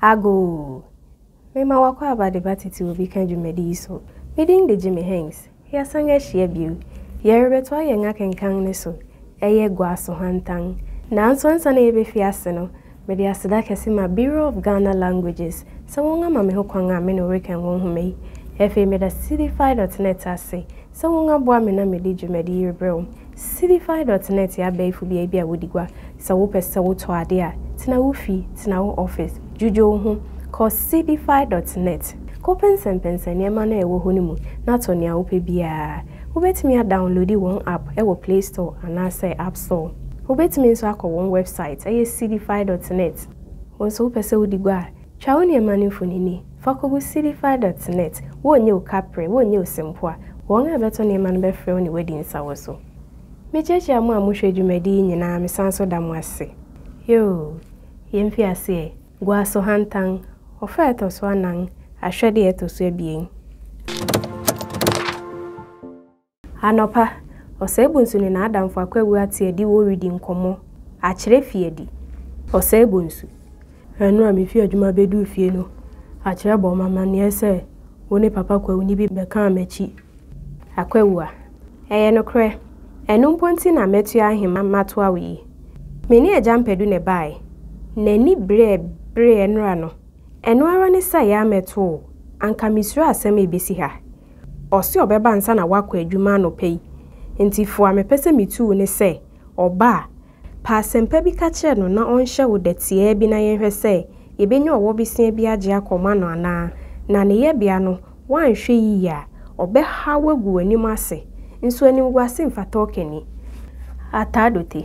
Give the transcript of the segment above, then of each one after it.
Agoo! Mema w'akwaaba de ba titiriw bi ka dwumadi yi so. Me din de Jimmy Hengst. Yɛasan ahyia bio. Yɛrebɛtoa yɛn akenkan no so. Ɛyɛ Guaso Hantan. Nanso ansa na yebefi ase no, Mede aseda kɛse ma Bureau of Ghana Languages sɛ wɔn ama me ho kwan a me ne wo rekan wɔn nhoma yi. Ɛfei meda Cdfi dot net ase sɛ wɔn aboa me na mede dwumadi yi rebrɛ wo. Cdfi dot net yɛ abɛɛfo beae bi a wodi gua. Sɛ wo pɛ sɛ wo tɔ ade a, tena wo fi, tena wo office, dwudwo wo ho, kɔ Cdfi dot net, kɔ pɛnsɛmpɛnsɛn nneɛma no a ɛwɔ hɔ no mu na tɔ nea wo pɛ biara. Wo bɛtumi a downloadi wɔn app wɔ play store anaa sɛ app. So wobɛtumi nso akɔ wɔn wɛbsaet, ɛyɛ Seedify dɔt nɛt. Wo nso wopɛ sɛ wodi gua a, twa wo nneɛma no mfonini fa kɔgu Seedify dɔt nɛt. Wonnye wo kaprɛ, wonnye wo sempoa. Wɔn a ɛbɛtɔ nneɛma no bɛfrɛ wo ne woadi nsawɔso. Mekyiakyia mo a mohwɛ dwumadi yi nyinaa, mesan nso da mo ase. Yoo, yɛn mfiaseɛ, gua so hantan, ɔfã a ɛtɔ so anan, ahwɛdeɛ a ɛtɔ so abien. Anɔpa, Ɔsɛebonsu ne n'adamfo Akwawu ate adiwo redi nkɔmmɔ. Akyerɛ fi adi. Ɔsɛebonsu, Ɛno a mifii adwuma beduu fie no, Akyerɛ bɔɔ me amanneɛ sɛ wo ne Papa Kwawuni bi bɛkaa m'akyi. Akwawu, A, ɛyɛ nokorɛ. Ɛno mpo nti na matua ahema matoa wo yi. Me ne Agya Mpadu na ɛbaeɛ. N'ani bereɛ bereɛ nnora no. Ɛno ara ne saeɛ a mɛto wo. Anka misuro asɛm a ebesi ha. Ɔse ɔbɛba ansa na wakɔ adwuma anɔpa yi nti fo a mepɛ sɛ metu wo ne sɛ ɔba a, pɛ asɛmpa bi ka kyerɛ no na ɔnhyɛ wo dɛ tiaa bi na yɛnhwɛ sɛ yɛbɛnya ɔwɔ besia bi agye akɔma no anaa, na ne yɛbea no woanhwɛ yiye a ɔbɛha wo agu w'anim ase, nso animguase mfata ɔkani. Ataadote.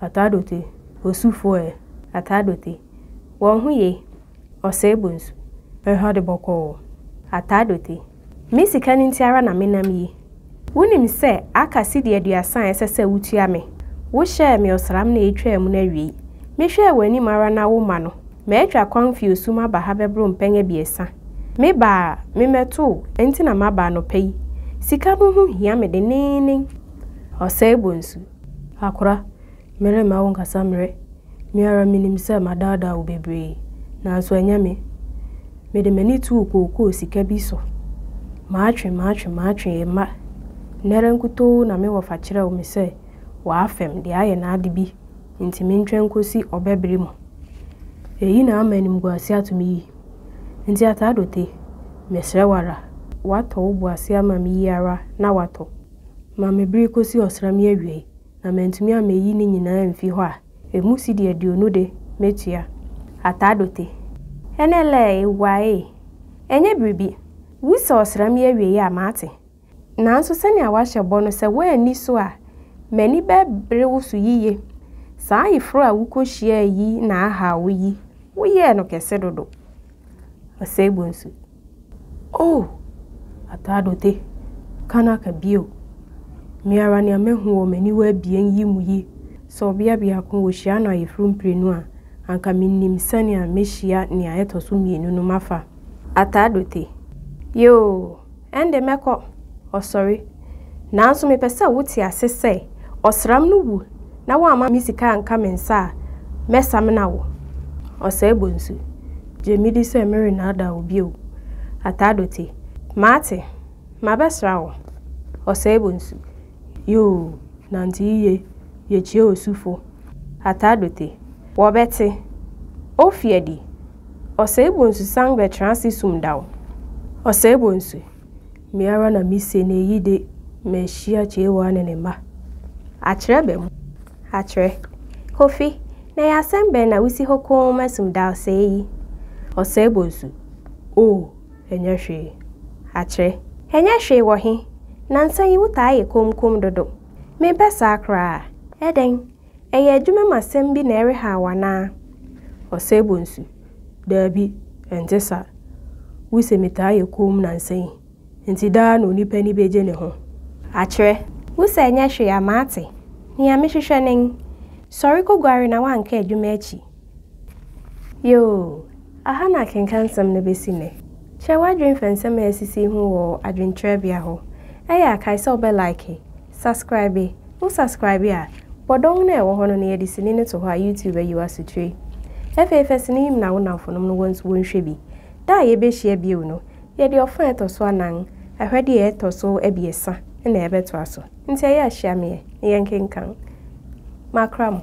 Ataadote, Osufo ɛ? Ataadote, Wɔn ho ye, Ɔsɛe Bonsu. Ɛha de bɔkɔɔ. Ataadote, Me sika no nti ara na menam yi. Wunim sɛ aka cedi aduasa a ɛsɛ sɛ wutua me. Wohyɛɛ me ɔsram na etwaa mu no awiei. Mehwɛɛ w'anim ara na womma no. Matwa kwan fi osu mu aba ha bɛboro mpɛn abiɛsa. Me ba a memmɛtoo nti na maba anɔpa yi. Sika no ho hia me denneennen. Ɔsɛe Bonsu, Akora, meremma wo nkasa mmrɛ. Me ara minim sɛ madaadaa wo bebree, nanso ɛnyɛ me. Mede m'ani too kookoo sika bi so. Matwe, matwe, matwe ɛmma nnɛ ara nkutoo na me wɔfa kyerɛw me sɛ w'afɛm de ayɛ n'ade bi nti mentwɛn nkosi ɔbɛ bere mu. Eyi na ama animguase ato me yi. Nti Ataadote, mesrɛ wo ara, woatɔ wo bo ase ama me yi ara na woatɔ. ma me bere kosi ɔsram yi awiei na mantumi ammeyi ne nyinaa amfi hɔ a, emu cedi aduonu de, metua. Ataadote. Ɛnɛ lɛɛ ewaee. Ɛnyɛ biribi. Wu sɛ ɔsram yi awiei a, mate. Nanso sɛnea woahyɛ bɔ no, sɛ woanni so a, m'ani bɛbere wo so yiye. Saa ayeforo a wukohyiae yi na ahaw wo yi, woyɛɛ no kɛse dodo. Ɔsɛe bonsu. Oh! Ataado te, ka no aka bio. Me ara nea mahu wɔ m'aniwa abien yi mu yi, sɛ ɔbea biako wɔ hyia no ayeforo mprenu a, anka minnim sɛnea mehyia nea ɛtɔ so mmienu no mafa. Ataado te, Yoo, ɛnde mɛkɔ. Ɔsɔre, Nanso mepɛ sɛ wote ase sɛ, ɔsram no wu na woamma me sika anka me nsa a, mɛsamena wo. Ɔsɛe bonsu, gye me di sɛ merennaadaa wo bio. Ataadote, mate, mabɛsra wo. Ɔsɛe bonsu, yoo, nante yiye, yɛkyia osufo. Ataadote, wɔbɛte, ofi adi. Ɔsɛe bonsu san bɛtra ase sum da wo. Ɔsɛe bonsu, Me ara na mise na eyi de mahyia Kyewaa ne ne mma. Akyerɛ bɛ mu. Akyerɛ. Kofi, na ɛyɛ asɛm bɛn na wusi hɔ komm asum da ɔsɛe yi? Ɔsɛe bonsu. Oh, ɛnyɛ hwee. Akyerɛ. Ɛnyɛ hwee wɔ he? Nnansa yi wotaa yɛ komm komm dodo. Mempɛ saa koraa. Ɛdɛn? Ɛyɛ adwuma mu asɛm bi na ɛrehaw wo anaa? Ɔsɛebɔnsu, Dabi, ɛnte saa. Wuse metaa yɛ komm nnansa yi, enti daa na onipa ani begye ne ho. Akyerɛ. Wuse ɛnyɛ hwee a, mate. Nea mehwehwɛ nen. Sɔre koguare na woanka adwuma akyi. Yoo, aha na akenkansɛm no besi nnɛ. Kyerɛ w'adwene fa nsɛm a asisi ho wɔ adwenkyerɛbea hɔ. Ɛyɛ a, kae sɛ wobɛ like. Subscribe, Wo subscribe a, bɔ dɔn no a ɛwɔ hɔ no na yɛde sini no to hɔ a YouTube ayi wo asotire. Afei fa sini yi mena wo nnamfonom no wɔn nso wɔnhwɛ bi. Da a yɛbɛhyia bio no, yɛde ɔfã a ɛtɔ so anan, Ahwɛdeɛ a ɛtɔ so abiɛsa, na yɛbɛtoa so. Nti ɛyɛ a hyia me ɛ na yɛnkenkan. Makra mo.